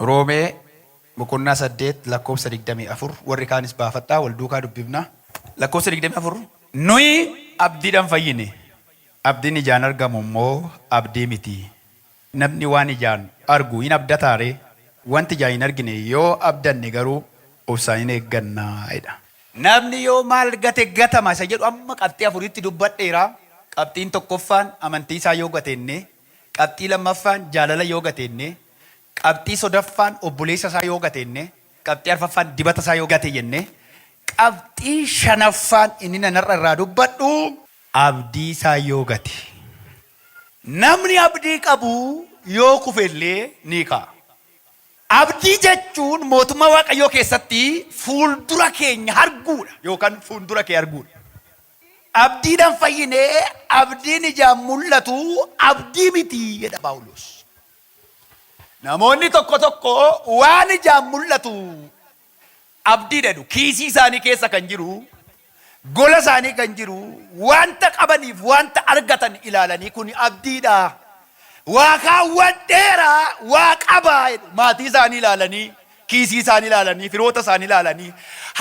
Roomee boqonnaa 8 lakkoofsa 24 warri kaanis baafadhaa wal duukaa dubbifna. Lakkoofsa 24 Nuyi abdiidhaan fayyine, abdiin ijaan argamu immoo abdii miti. Namni waan ijaan argu in abdataa ree? Wanti ijaan hin argine yoo abdanne garuu obsaan in eegganna jedha. Namni yoo maal gate gatama isa jedhu amma qabxii afuritti dubbadheera. Qabxiin tokkoffaan amantii isaa yoo gateenne, qabxii lammaffaan jaalala yoo gateenne, qabxii sodaffaan obboleessa isaa yoo gateenne, qabxii arfaffaan dibata isaa yoo gate jenne, qabxii shanaffaan inni nan har'a irraa dubbadhu, abdii isaa yoo gate Namni abdii qabu yoo kufe illee ni ka'a. Abdii jechuun mootummaa Waaqayyoo keessatti fuuldura keenya arguudha yookaan fuundura kee arguudha. Abdiidhaan fayyine, abdiin ijaan mul'atu abdii miti jedha Phaawulos. Namoonni tokko tokko waan ijaan mul'atu abdii dhadu kiisii isaanii keessa kan jiru gola isaanii kan jiru wanta qabaniif wanta argatan ilaalanii kuni abdiidha waa kaawwadheera waa qaba jedhu maatii isaanii ilaalanii kiisii isaanii ilaalanii firoota isaanii ilaalanii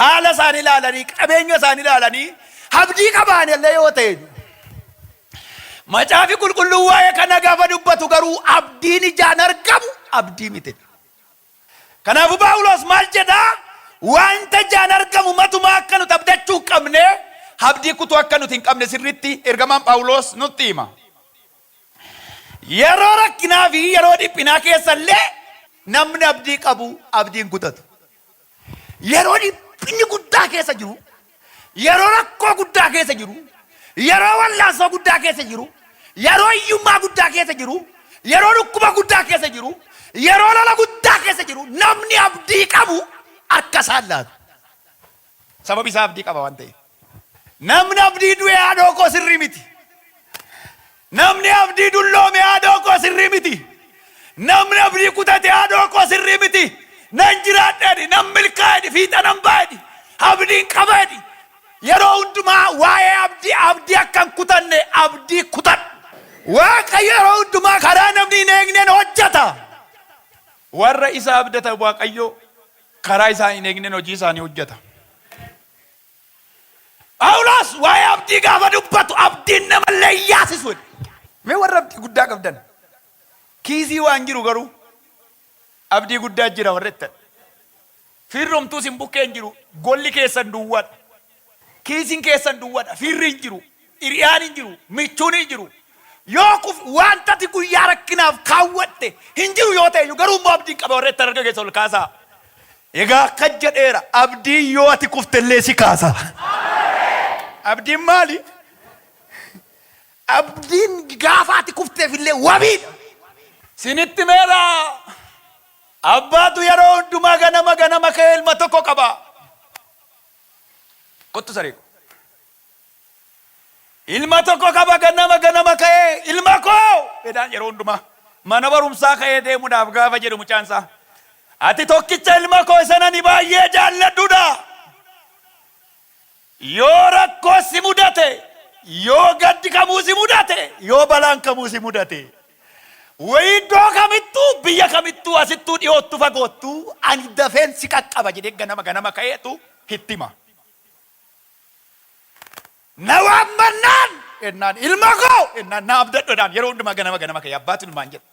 haala isaanii ilaalanii qabeenya isaanii ilaalanii abdii qabaan illee yoo ta'e Macaafi qulqulluu waa'ee kana gaafa dubbatu garuu abdiin ijaan argamu abdii miti. Kanaafuu Phaawuloos maal jedha? Wanta ijaan argamu matumaa akka nuti abdachuu hin qabne, abdii kutuu akka nuti hin qabne sirriitti ergamaan Phaawuloos nutti hima. Yeroo rakkinaa fi yeroo dhiphinaa keessa illee namni abdii qabu abdii hin kutatu. Yeroo dhiphinni guddaa keessa jiru Yeroo rakkoo guddaa keessa jiru, yeroo wallaansoo guddaa keessa jiru, yeroo hiyyummaa guddaa keessa jiru, yeroo dhukkuba guddaa keessa jiru, yeroo lola guddaa keessa jiru namni abdii qabu harka isaa hin laatu. Sababi isaa abdii qaba waan ta'eef. Namni abdii du'e haadhoo koo sirrii miti. Namni abdii dulloome haadhoo koo sirrii miti. Namni abdii kutate haadhoo koo sirrii miti. Nan jiraadha jedhi, nan milkaa'a jedhi, fiixa nan ba'a jedhi, abdiin qaba jedhi. Yeroo hundumaa waa'ee abdii abdii akka hin kutanne abdii kutadhu. Waaqayyo yeroo hundumaa karaa namni hin eegneen hojjeta. Warra isa abdatan Waaqayyo karaa isaan hin eegneen hojii isaanii hojjeta. Phaawulos waa'ee abdii gaafa dubbatu abdiin namallee hin yaasisu jedhe. Mee warra abdii guddaa qabdan kiisii waan jiru garuu abdii guddaa jira warra jettan. Fiirromtuu isin bukkee hin jiru golli keessan duwwadha. Kiisiin keessan duwwadha fiirri hin jiru. Hiriyaan hin jiru, michuun hin jiru. Yoo kuf wanta ati guyyaa rakkinaaf kaawwatte hin jiru yoo ta'eyyuu garuu immoo abdiin qaba warra ittan harka keessa ol kaasaa. Egaa akkas jedheera abdiin yoo ati kuftellee si kaasa. Abdiin maali? Abdiin gaafa ati kufteefillee wabiidha. Sinitti meera abbaatu yeroo hundumaa ganama ganama ka'ee ilma tokko qaba. Kottu saree ko. Ilma tokko qaba ganama ganama ka'ee ilma koo jedhaan yeroo hundumaa mana barumsaa ka'ee deemuudhaaf gaafa jedhu mucaan isaa ati tokkicha ilma koo isa nani baay'ee jaalladhudha yoo rakkoo si mudate yoo gaddi kamuu si mudate yoo balaan kamuu si mudate wayii iddoo kamittuu biyya kamittuu asittuu dhiyoottu fagoottu ani dafeen si qaqqaba jedhee ganama ganama ka'eetu hittima. Na waammannaan ennaan ilma koo ennaan na abdadhu jedhaan yeroo hundumaa ganama ganama ka'ee abbaatu ilmaan jedha.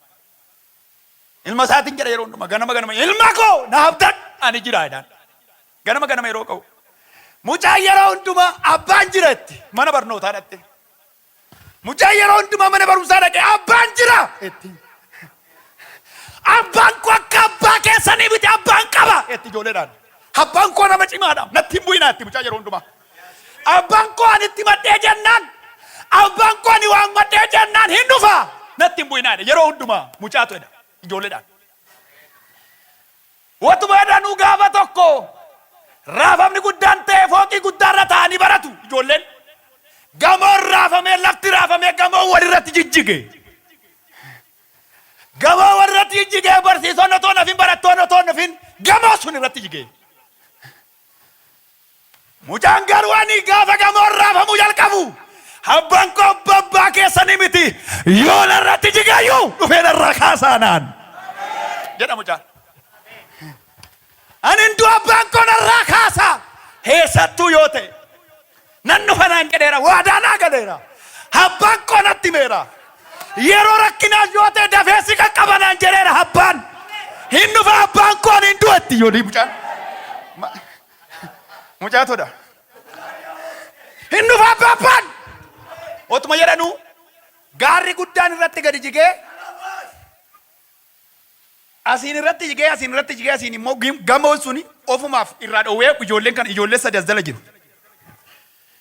Ilma isaatiin jedha yeroo hundumaa ganama ganama ilma koo na abdadhu ani jira jedhaan. Ganama ganama yeroo ka'u. Mucaan yeroo hundumaa abbaan jira itti mana barnootaa dhatte. Mucaan yeroo hundumaa mana barumsaa dhaqee abbaan jira etti. Abbaan koo akka abbaa keessanii miti abbaan qaba etti ijoolleedhaan. Abbaan koo nama cimaadha natti hin bu'inaa etti mucaan yeroo hundumaa. Abbaan koo ani itti madhee jennaan abbaan koo ani waan madhee jennaan hin dhufa natti hin bu'inaa jedha yeroo hundumaa mucaatu jedha ijoolleedhaan. Utuma jedhanuu gaafa tokko raafamni guddaan ta'e fooqii guddaa irra taa'anii baratu ijoolleen. Gamoon raafamee lafti raafamee gamoon walirratti jijjige. Gamoon walirratti jijjigee barsiisonni otoo hin hafin barattoonni otoo hin hafin gamoon sun irratti jige. Mucaan garuu ani gaafa gamoon raafamuu jalqabu abbaan koo abba abbaa keessanii miti yoo narratti jigayyuu dhufee narraa kaasaanaan jedha mucaan. Ani hunduu abbaan koo narraa kaasa eessattuu yoo ta'e. Nan dhufa naan jedheera, waadaa naa galeera, abbaan koo natti himeera. Yeroo rakkinaa yoo ta'e dafee si qaqqaba naan jedheera abbaan. Hin dhufa abbaan koo ani hin du'etti yoo mucaan. Ma- Mucaa todha. Hin dhufa abba abbaan. Otuma jedhanuu gaarri guddaan irratti gadi jigee Asiin irratti jigee asiin irratti jigee asiin immoo gim- gamoon suni ofumaaf irraa dhoowwee ijoolleen kan ijoollee sadi as jala jiru.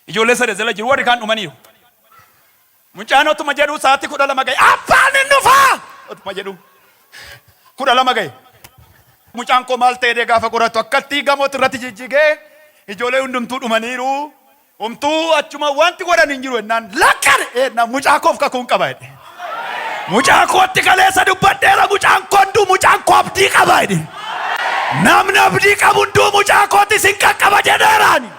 Ijoollee sadi as jala jiru warri kaan dhumaniiru. Mucaan otuma jedhu sa'aatii kudha lama ga'e abbaan hin dhufaa otuma jedhu kudha lama ga'e. Mucaan koo maal ta'ee gaafa qoratu akkatti gamooti irratti jijjigee ijoollee hundumtuu dhumaniiru. Homtuu achuma wanti godhan hin jiru jennaan lakkan jennaan mucaa koof kakuun qaba jedhe. Mucaa kootti kaleessa dubbadheera mucaan koo hunduu mucaan koo abdii qaba jedhe. Namni abdii qabu hunduu mucaa kootis hin qaqqaba jedheeraani.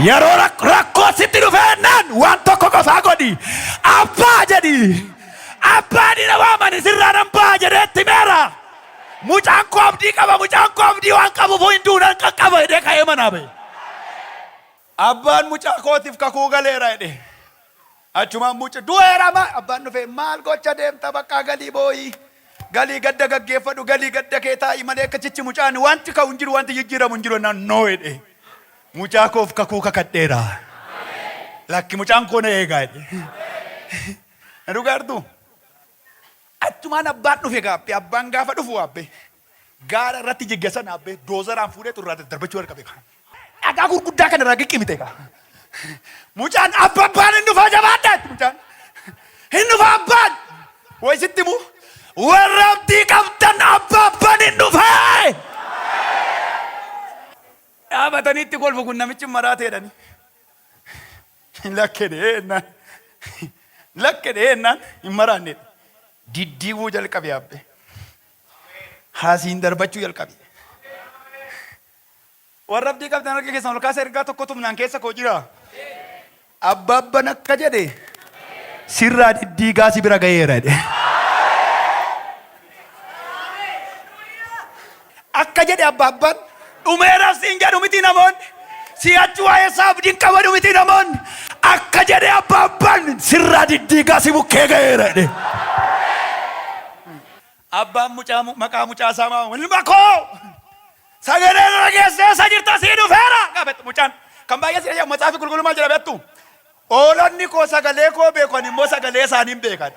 Yeroo rak- rakkoo sitti dhufe jennaan waan tokko qofaa godhi. Abbaa jedhi. Abbaa dina waamani sirraa nan ba'a jedhee itti meera. Mucaan koo abdii qaba, mucaan koo abdii waan qabuufuu hin du'u nan qaqqaba jedhee ka'ee manaa ba'e. Abbaan mucaa kootiif kakuu galeera jedhe. Achumaan muci du'eera ma abbaan dhufee maal gocha deemta baqqaa galii boo'ii galii gadda gaggeeffadhu galii gadda kee taa'i malee akka chichi mucaan wanti ka'u hin jiru wanti jijjiiramu hin jiru naan noo jedhe. Mucaa koof kakuu kakadheera. Lakki mucaan koo na eegaa jedhe. Na dhugaartuu? Achumaan abbaan dhufe gaabbe. Abbaan gaafa dhufu aabbe gaara irratti jigge sana aabbe doozaraan fuudheetu irraa daddarbachuu jalqabe kaa. Dhagaa gurguddaa kana irraa giqqimite kaa. Mucaan abba abbaan hin dhufaa jabaadhaa itti mucaan. Hin dhufa abbaan. Way sitti himu warra abdii qabdan abba abbaan hin dhufee. Dhaabatanii itti kolfu kun namichi maraateedhani. Lakke dhee ennaan lakke dhee ennaan hin maraanne diddiiguu jalqabe abbe haasiin darbachuu jalqabe. Warra abdii qabdan harka keessan ol kaasa ergaa tokko tumnaan keessa koo jira. Abbaabban akka jedhe sirraa diddiigaa si bira gaheera jedhe. Akka jedhe Abbaabban, Dhumeeras siin jedhu mitii namoonni? Si'achi waa'ee isaa abdii hin qabanu mitii namoonni? Akka jedhe Abbaabban, Sirraa diddiigaa si bukkee ga'eera jedhee. Abbaan mucaa mu- maqaa mucaa isaa maa waama? Ilma koo! Sagalee irra geessee isa jirta sii dhufeera! Gaafate mucaan. Kan baay'ee si ajaa'ibu matsaafi qulqulluu maal jedha beektu? Hoolonni koo sagalee koo beeku, ani immoo sagalee isaaniin beekan.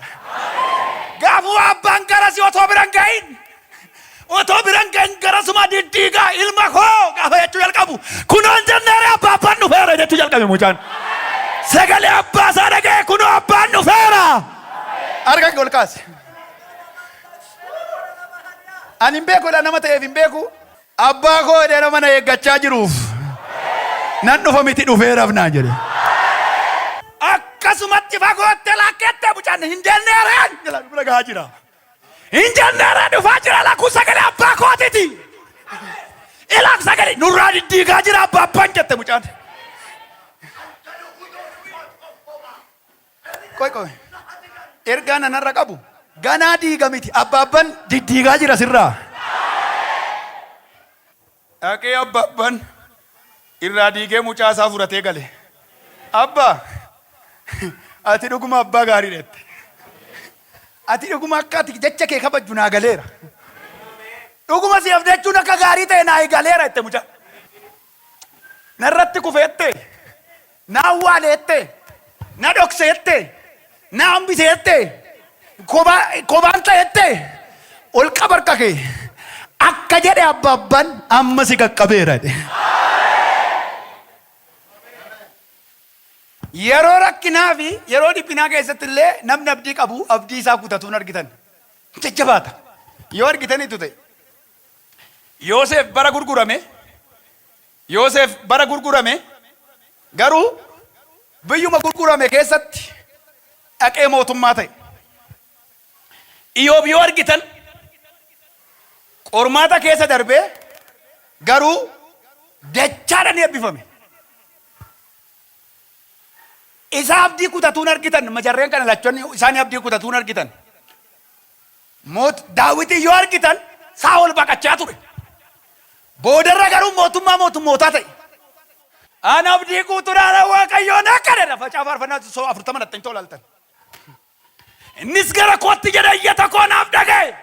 Gaafuu abbaan garasi otoo bira hin ga'in, otoo bira hin ga'in garasuma diddiigaa ilma koo gaafa jechuu jalqabu kunoo hin jenneere abbaa abbaan dhufeera jechuu jalqabe mucaan. Sagalee abbaa isaa dhaga'e kunoo abbaan dhufeera. Harka kee ol kaasi. Ani hin beeku jedha nama ta'eef hin beeku. Abbaa koo jedhee nama na eeggachaa jiruuf nan dhufa miti dhufeeraf naan jedhe. Akkasumatti fagootti lakkette mucaan hin jenneereen jala bira gahaa jira. Hin jenneereen dhufaa jira lakkuu sagalee abbaa kootiti. Ilaak sagalee nurraa diddiigaa jira abbaa abbaan jette mucaan. Qoy qoy ergaan an har'a qabu ganaa diiga miti abbaabban diddiigaa jira sirraa dhaqee abbaabban irraa diigee mucaa isaa furatee gale abba ati dhuguma abbaa gaarii dhette ati dhuguma akka ati jecha kee kabajju naa galeera dhuguma si abdachuun akka gaarii ta'e naa galeera itti mucaa Narratti kufeette, na awwaaleette, na dhokseette, na hambiseette, kobaa, kobaan ta'eette, ol qaba harka kee. Akka jedhe abbaabban amma si qaqqabeera jedhe. Yeroo rakkinaa fi yeroo dhiphinaa keessatti illee namni abdii qabu abdii isaa kutatuun argitan. Jajjabaata. Yoo argitaniitu ta'e. Yooseef bara gurgurame Yooseef bara gurgurame garuu biyyuma gurgurame keessatti dhaqee mootummaa ta'e. Iyoob yoo argitan qormaata keessa darbee garuu dachaadhaan eebbifame. Isa abdii kutatuun argitan majarreen kana lachonni isaanii abdii kutatuun argitan. Moot Daawitiin yoo argitan Saa'ol baqachaa ture. Boodarra garuu mootummaa mootummootaa ta'e. An abdii guutuudhaan Waaqayyoon akka jedha facaa faarfannaa so 40 natti himtoo laaltan. Innis gara kootti jedhe iyyata koo naaf dhaga'e.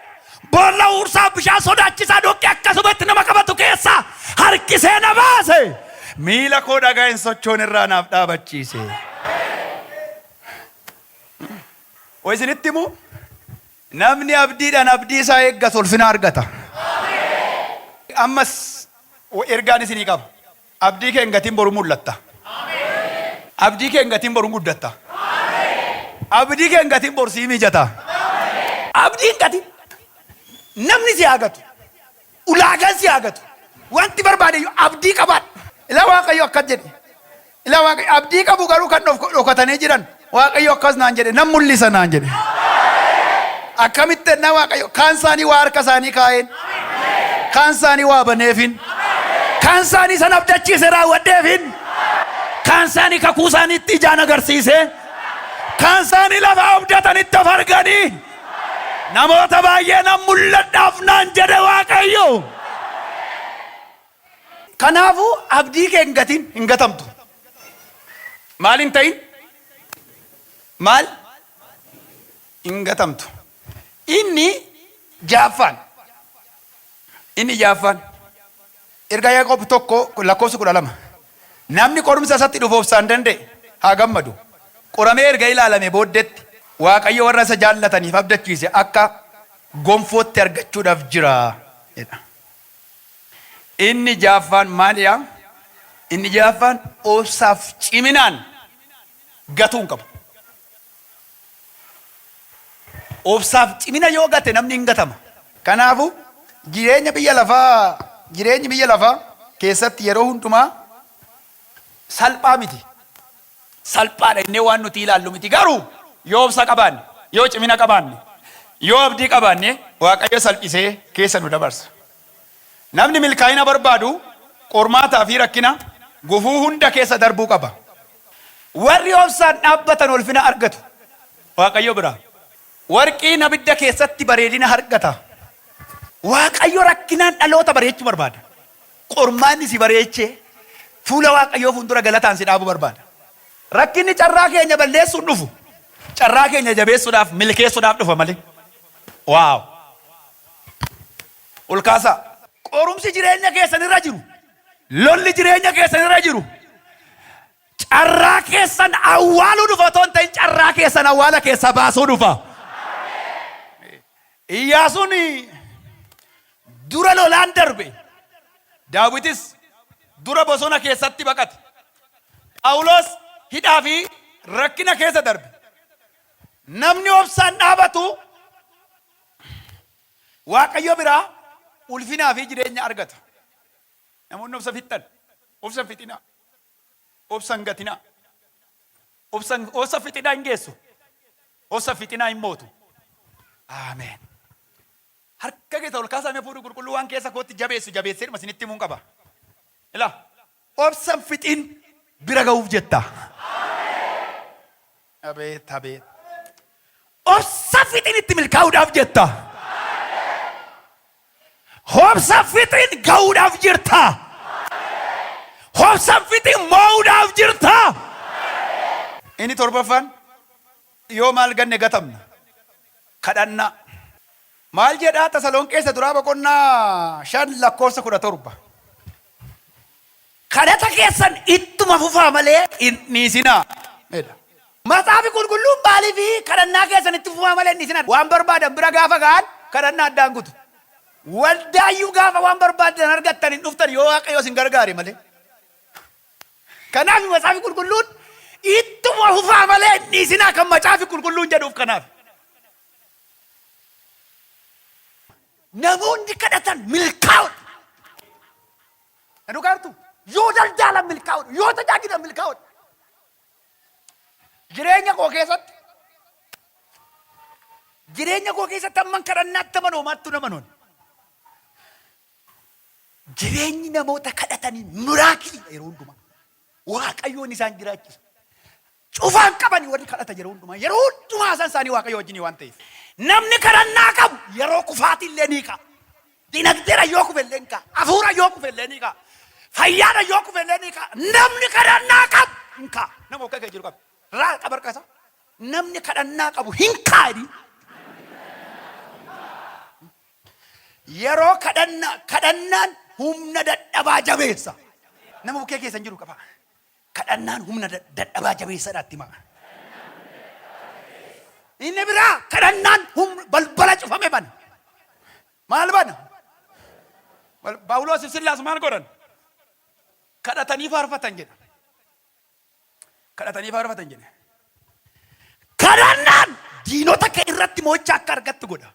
Boolla huursaa bishaan sodaachisaa dhoqqee akkasuma itti nama qabatu keessaa harkisee na baase. Miila koo dhagaa hin sochoone irraa naaf dhaabachiise. Wa isinitti himu namni abdiidhaan abdii isaa eeggatu ulfina argata. Ammas ergaan isinii qaba. Abdii kee hin gatin boru mul'atta. Abdii kee hin gatin boru guddatta. Abdii kee hin gatin boru sii mijata. Abdii hin gatin. Namni si haa gatu. Ulaagaan si haa gatu. Wanti barbaade iyyuu abdii qabaadhu. Ilaa Waaqayyo akkas jedhe. Ilaa Waaqayyo abdii qabu garuu kan dhof- dhokatanii jiran. Waaqayyo akkas naan jedhe nan mul'isa naan jedhe. Akkamitti ennaa Waaqayyo kaan isaanii waa harka isaanii kaa'een. Kaan isaanii waa baneefin. Kaan isaanii san abdachiise raawwadheefin. Kaan isaanii kakuu isaaniitti ijaan agarsiisee. Kaan isaanii lafa abdatanitti of arganii. Namoota baay'ee nan mul'adhaaf naan jedhe Waaqayyo. Kanaafuu abdii kee hin gatin, hin gatamtu. Maal hin ta'in? Maal? Hin gatamtu. Inni ja'affaan. Inni ja'affaan, Ergaa Yaaqoob 1 lakkoofsa 12, Namni qorumsa isatti dhufu obsaan danda'e haa gammadu. Qoramee erga ilaalamee booddeetti, Waaqayyo warra isa jaallataniif abdachiise akka gonfootti argachuudhaaf jira jedha. Inni ja'affaan maalidha? Inni ja'affaan, obsaaf ciminaan gatuu hin qabu. Obsaaf cimina yoo gate namni hin gatama. Kanaafuu, jireenya biyya lafaa jireenyi biyya lafaa keessatti yeroo hundumaa salphaa miti. Salphaadha jennee waan nuti ilaallu miti. Garuu yoo obsa qabaanne, yoo cimina qabaanne, yoo abdii qabaanne Waaqayyo salphisee keessa nu dabarsa. Namni milkaa'ina barbaadu qormaataa fi rakkina, gufuu hunda keessa darbuu qaba. Warri obsaan dhaabbatan ulfina argatu. Waaqayyo biraa. Warqiin abidda keessatti bareedina hargata. Waaqayyo rakkinaan dhaloota bareechuu barbaada. Qormaanni si bareechee fuula Waaqayyoo fuuldura galataan si dhaabuu barbaada. Rakkinni carraa keenya balleessuun dhufu, carraa keenya jabeessuudhaaf, milkeessuudhaaf dhufa malee. Wow! ol kaasaa. Qorumsi jireenya keessan irra jiru, lolli jireenya keessan irra jiru carraa keessan awwaaluu dhufa otoo hin ta'in carraa keessan awwaala keessaa baasuu dhufa. Iyyaasuun dura lolaan darbe, Daawitis dura bosona keessatti baqate. Phaawulos hidhaa fi rakkina keessa darbe. Namni obsaan dhaabatu Waaqayyo biraa ulfinaa fi jireenya argata. Namoonni obsa fixxan, obsa hin fixinaa. Obsa hin gatinaa. Obsa hin- obsa fixinaa hin geessu. Obsa fixinaa hin mootu. Aameen. Harka keessa ol kaasaa mee fuudhu qulqulluu waan keessa kootti jabeessu jabeesseedhuma isinitti himuun qaba. Ilaa. Obsan fixiin bira ga'uuf jetta. Abeet abeet. Obsa fixiin itti milkaa'uudhaaf jetta. Obsa fixiin ga'uudhaaf jirta. Obsa fixiin moo'uudhaaf jirta. Inni torbaffaan yoo maal ganne gatamna. Kadhannaa. Maal jedhaa Tasalonqee isa duraa boqonnaa 5 lakkoofsa 17. Kadhata keessan ittuma fufaa malee hin dhiisinaa. jedha. Matsaafi qulqulluun maaliif kadhannaa keessan itti fufaa malee hin dhiisinaa? Waan barbaadan bira gaafa ga'an kadhannaa addaan kutu. Waldaayyuu gaafa waan barbaaddan argattan hin dhuftan yoo Waaqayyo isin gargaare malee. Kanaaf Macaafi Qulqulluun ittuma fufaa malee hin dhiisinaa kan Macaafi Qulqulluun jedhuuf kanaaf. Namoonni kadhatan milkaa'udha. Dhugaa jirtu yoo daldaalan milkaa'udha, yoo tajaajilan milkaa'udha. Jireenya koo keessatti jireenya koo keessatti amman kadhannaatti amanoomaattu nama noon. Jireenyi namoota kadhatanii miraakiliidha yeroo hundumaa. Waaqayyoon isaan jiraachisa. Cufaan qabani warri kadhatan yeroo hundumaa. Yeroo hundumaa haasaan isaanii Waaqayyo wajjinii waan ta'eef. Namni kadhannaa qabu yeroo kufaatii illee ni ka'a. Dinagdeera yoo kufe illee ni ka'a. Hafuura yoo kufe illee ni ka'a. Fayyaadha yoo kufe illee ni ka'a. Namni kadhannaa qabu hin ka'a. Nama akka kee jiru qabu. Raa qaba harka isaa. Namni kadhannaa qabu hin ka'a jedhiin. Yeroo kadhannaa, kadhannaan humna dadhabaa jabeessa. Nama bukkee keessan jiru qaba. Kadhannaan humna da- dadhabaa jabeessadha itti himaa. Inni biraa kadhannaan humna balbala cufame bana. Maal bana? Bal- Phaawuloosiif Sillaas maal godhan? Kadhatanii faarfatan jedha. kadhatanii faarfatan jedhe. Kadhannaan diinota kee irratti mo'icha akka argattu godha.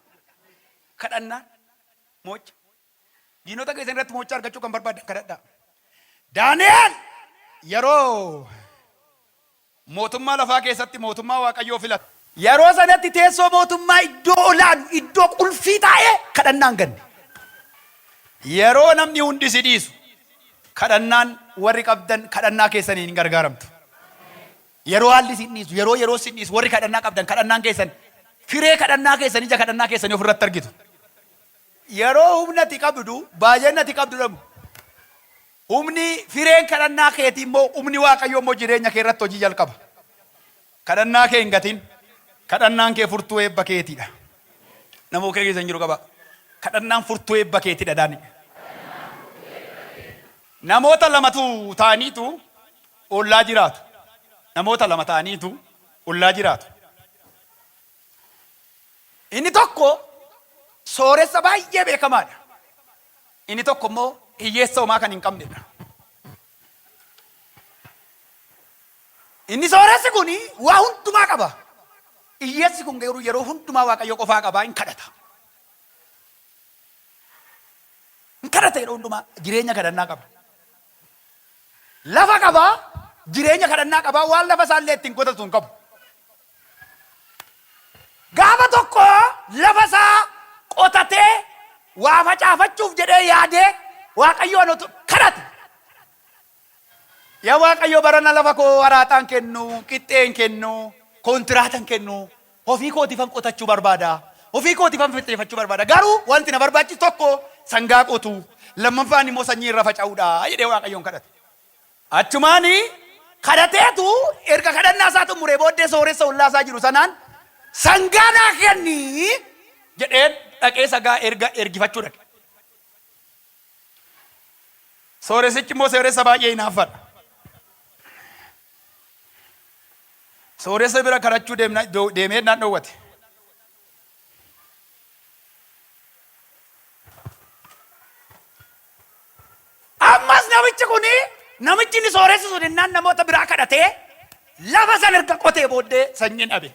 Kadhannaan mo'icha. Diinota keessan irratti mo'icha argachuu kan barbaaddan kadhadhaa. Daani'el yeroo mootummaa lafaa keessatti mootummaa Waaqayyoo filate. Yeroo sanatti teessoo mootummaa iddoo olaanu, iddoo qulfii taa'ee kadhannaan ganne. Yeroo namni hundi si dhiisu, kadhannaan warri qabdan kadhannaa keessaniin hin gargaaramtu. Yeroo haalli sin dhiisu, yeroo yeroon sin dhiisu warri kadhannaa qabdan kadhannaan keessan firee kadhannaa keessan ija kadhannaa keessanii ofirratti argitu. Yeroo humna ati qabdu baay'inni ati qabdu dhabu. Humni fireen kadhannaa keetii immoo humni Waaqayyoo immoo jireenya kee irratti hojii jalqaba. Kadhannaa kee hin gatin. Kadhannaan kee furtuu eebba keeti dha. Nama bukkee keessan jiru qabaa. Kadhannaan furtuu eebba keeti dha jedhaani. Namoota lamatu ta'aniitu ollaa jiraatu. Namoota lama ta'aniitu ollaa jiraatu. Inni tokko sooressa baay'ee beekamaa dha. Inni tokko immoo hiyyeessa homaa kan hin qabne dha. Inni sooressi kun waa hundumaa qaba. Iyyeessi kun garuu yeroo hundumaa Waaqayyo qofaa qaba, in kadhata. In kadhata yeroo hundumaa jireenya kadhannaa qaba. Lafa qaba, jireenya kadhannaa qaba, waan lafa isaallee ittiin qotatu hin qabu. Gaafa tokko lafa isaa qotatee waa facaafachuuf jedhee yaadee Waaqayyoon otu kadhate. Yaa Waaqayyo barana lafa koo araaxaa hin kennu, qixxee hin kennu, kontiraata hin kennu. Ofii kootiifan qotachuu barbaada. Ofii kootiifan fixeeffachuu barbaada. Garuu wanti na barbaachisu tokko sangaa qotuu, lammaffaan immoo sanyii irra faca'uudha jedhee Waaqayyoon kadhate. Achumaan kadhateetu erga kadhannaa isaa xumuree booddee sooressa ollaa isaa jiru sanaan sangaa naa kenni jedhee dhaqee sagaa erga ergifachuu dhaqe. Sooressichi immoo sooressa baay'ee hinaaffadha. Sooressa bira kadhachuu deemna- do- deemee naan dhoowwate. Ammas namichi kun namichi inni sooressi sun innaan namoota biraa kadhatee lafa san erga qotee booddee sanyiin dhabe.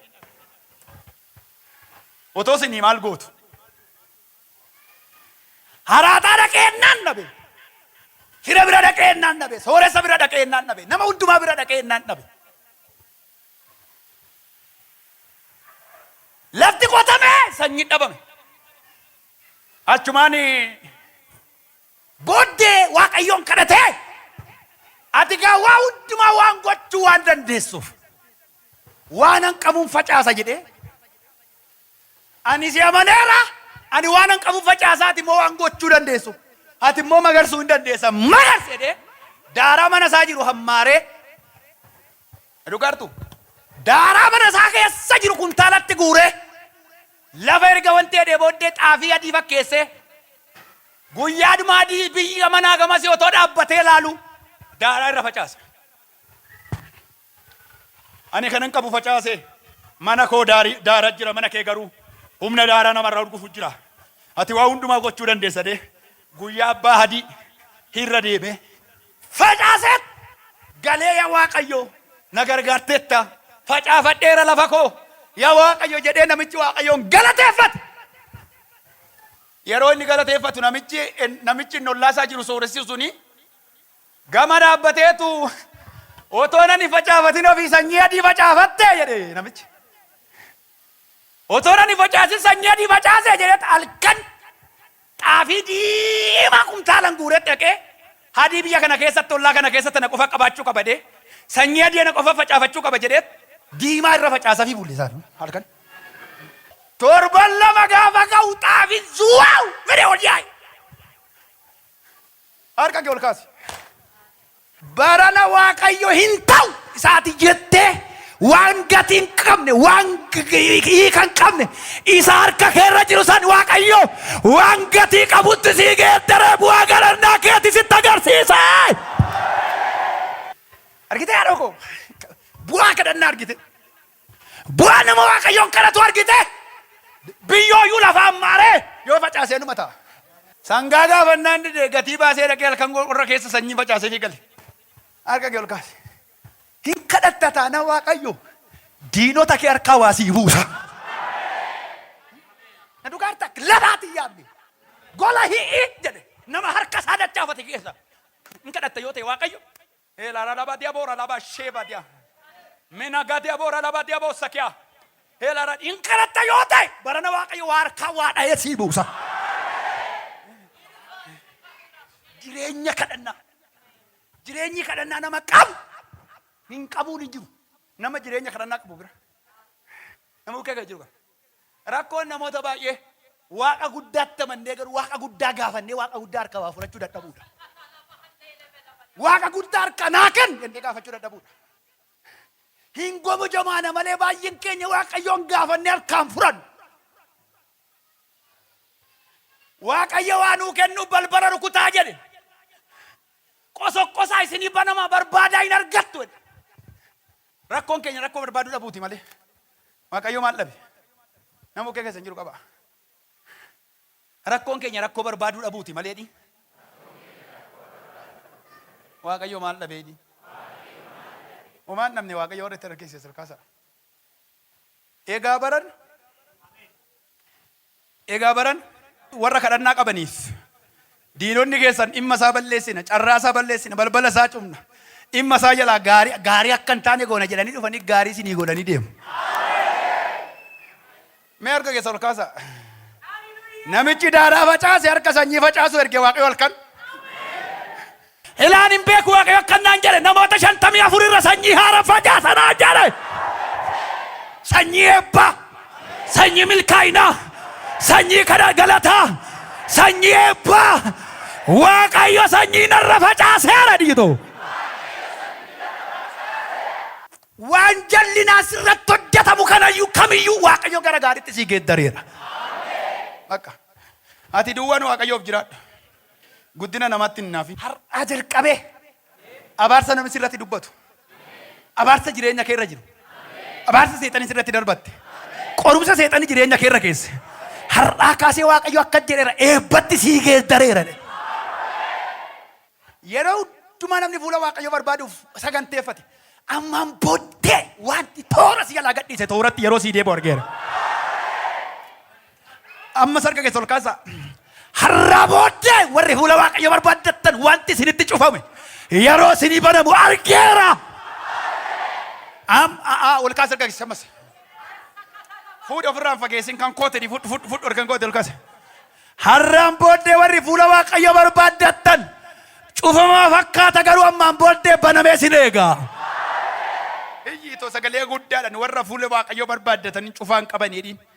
Otoo isinii maal gootu? Haraaxaa dhaqee ennaan dhabe. Fira bira dhaqee ennaan dhabe. Sooressa bira dhaqee ennaan dhabe. Nama hundumaa bira dhaqee ennaan dhabe. Lafti qotamee sanyiin dhabame. Achumaan booddee Waaqayyoon kadhatee ati gaa waa hundumaa waan gochuu waan dandeessuuf waanan qabuun facaasa jedhee Ani si amaneera, ani waanan qabun facaasa, ati immoo waan gochuu dandeessu, ati immoo magarsuu in dandeessa, magarsi! jedhee daaraa mana isaa jiru hammaaree, na dhugaartu? daaraa mana isaa keessa jiru kuntaalatti guuree, lafa erga wanti jedhee booddee xaafii adii fakkeessee, guyyaa dhumaa adii biyya manaa gamasii otoo dhaabbatee ilaaluu daaraa irra facaasa. Ani kanan qabu facaase, mana koo daarii, daara jira, mana kee garuu humna daaraa namarraa urgufu jira. Ati waa hundumaa gochuu dandeessa dee guyyaa abbaa hadii hirra deemee facaaseet galee ya waaqayyoo na gargaarteetta facaafadheera lafa koo ya waaqayyo jedhee namichi waaqayyoon galateeffate. Yeroo inni galateeffatu namichi namichi inni ollaasaa jiru sooressi suni Gama dhaabbateetu, Otoo nan hin facaafatin ofii sanyii adii facaafattee? jedhe namichi. Otoo nan hin facaasin sanyii adii facaase jedheet halkan xaafii diimaa kumtaalan guuree dhaqee hadii biyya kana keessatti ollaa kana keessa tana qofa qabaachuu qaba jedhee sanyii adii ana qofa facaafachuu qaba jedheet diimaa irra facaasafii bulle isaan halkan. Torban lama gaafa ka'u xaafin zuwaaw fedhe ol yaa'e. Harka kee ol kaasi. Barana Waaqayyo hin ta'u isaati jettee waan gatii hin qabne waan hiika hin qabne isa harka keerra jiru san Waaqayyo waan gatii qabutti sii geeddaree bu'aa galannaa keeti sitti agarsiisa. Argitee haadhoo koo bu'aa kadhannaa argite. Bu'aa nama Waaqayyoon kadhatu argitee? Biyyooyyuu lafaan maaree yoo facaasee numa ta'a. Sangaa gaafannaan didee gatii baasee dhaqee halkan qorra keessa sanyii facaasee fi gale. Harka kee ol kaase. Hin kadhatta taanaa Waaqayyo diinota kee harkaa waa sii buusa. Na dhugaarta lafaatiin yaabne. Gola hi'i jedhe nama harka isaa dachaafate keessa. Hin kadhatta yoo ta'e Waaqayyo Hela ralaba diabo ralaba sheba dia. Menaga diabo ralaba diabo sakia. Hela rad in kadhatta yoo ta'e barana waaqayyo waa harkaa waa dha'ee sii buusa. Jireenya kadhannaa. Jireenyi kadhannaa nama qabu hin qabuun hin jiru. Nama jireenya kadhannaa qabu bira. Nama bukkee kan jiru kan. Rakkoon namoota baay'ee, Waaqa guddaatti amannee garuu Waaqa guddaa gaafannee Waaqa guddaa harkaa waa fudhachuu dadhabuudha. Waaqa guddaa harkaa naa kenni jennee gaafachuu dadhabuudha. Hin gomojomaana malee baay'een keenya Waaqayyoon gaafannee harkaan fudhannu. Waaqayyo waa nuu kennuuf balbala rukutaa jedhe. Qosoqqosaa isinii banamaa barbaadaa hin argattu jedhe. Rakkoon keenya rakkoo barbaaduu dhabuuti malee Waaqayyoo maal dhabe? Nama bukkee keessan jiru qabaa. Rakkoon keenya rakkoo barbaaduu dhabuuti malee jedhi. Waaqayyoo maal dhabe jedhi. Homaa hin dhabne Waaqayyo warra itti harkeesse sirkaasaa. Egaa baran Egaa barana warra kadhannaa qabaniif, Diinonni keessan dhimma isaa balleessina, carraa isaa balleessina, balbala isaa cufna, dhimma isaa jalaa gaarii, gaarii akka hin taane goona jedhanii dhufanii gaarii isinii godhanii deemu. Mee harka keessan ol kaasaa. Namichi daaraa facaase harka sanyii facaasuu erge Waaqayyo halkan. Elaan hin beeku Waaqayyo akkan naan jedhe namoota shantamii afur irra sanyii haara facaasa naan jedhe. Sanyii eebbaa, sanyii milkaa'inaa, sanyii kadha galataa, sanyii eebbaa. Waaqayyo sanyii narra facaaseera dhiito. Waan jallinaa sirratti hojjetamu kanayyuu kamiyyuu Waaqayyo gara gaariitti sii geeddareera. Bakka ati duwwaan Waaqayyoof jiraadhu. Guddina namaatti hin hinaafin. Har'aa jalqabee abaarsa namni sirratti dubbatu, abaarsa jireenya kee irra jiru, abaarsa seexanni sirratti darbatte, qorumsa seexanni jireenya kee irra keesse, har'aa kaasee Waaqayyo akka jedheera eebbatti sii geeddareera. Yeroo hundumaa namni fuula Waaqayyo barbaaduuf saganteeffate ammaan booddee wanti toora si jalaa gadhiise tooratti yeroo sii deebi'u argeera. Ammas harka keessa ol kaasaa. Har'aa booddee warri fuula Waaqayyo barbaaddattan wanti isinitti cufame yeroo isinii banamu argeera. Am aa ol kaasa harka keessa ammas. Fuudhi ofirraan fageessin kan kootedhi fudhu fudhu fudhu kan koote ol kaasa. Har'aan booddee warri fuula Waaqayyo barbaaddattan cufamaa fakkaata garuu ammaan booddee banamee isin eegaa. Iyyi itoo sagalee guddaadhaan warra fuula Waaqayyo barbaaddatanii cufaan qabaniidhiin.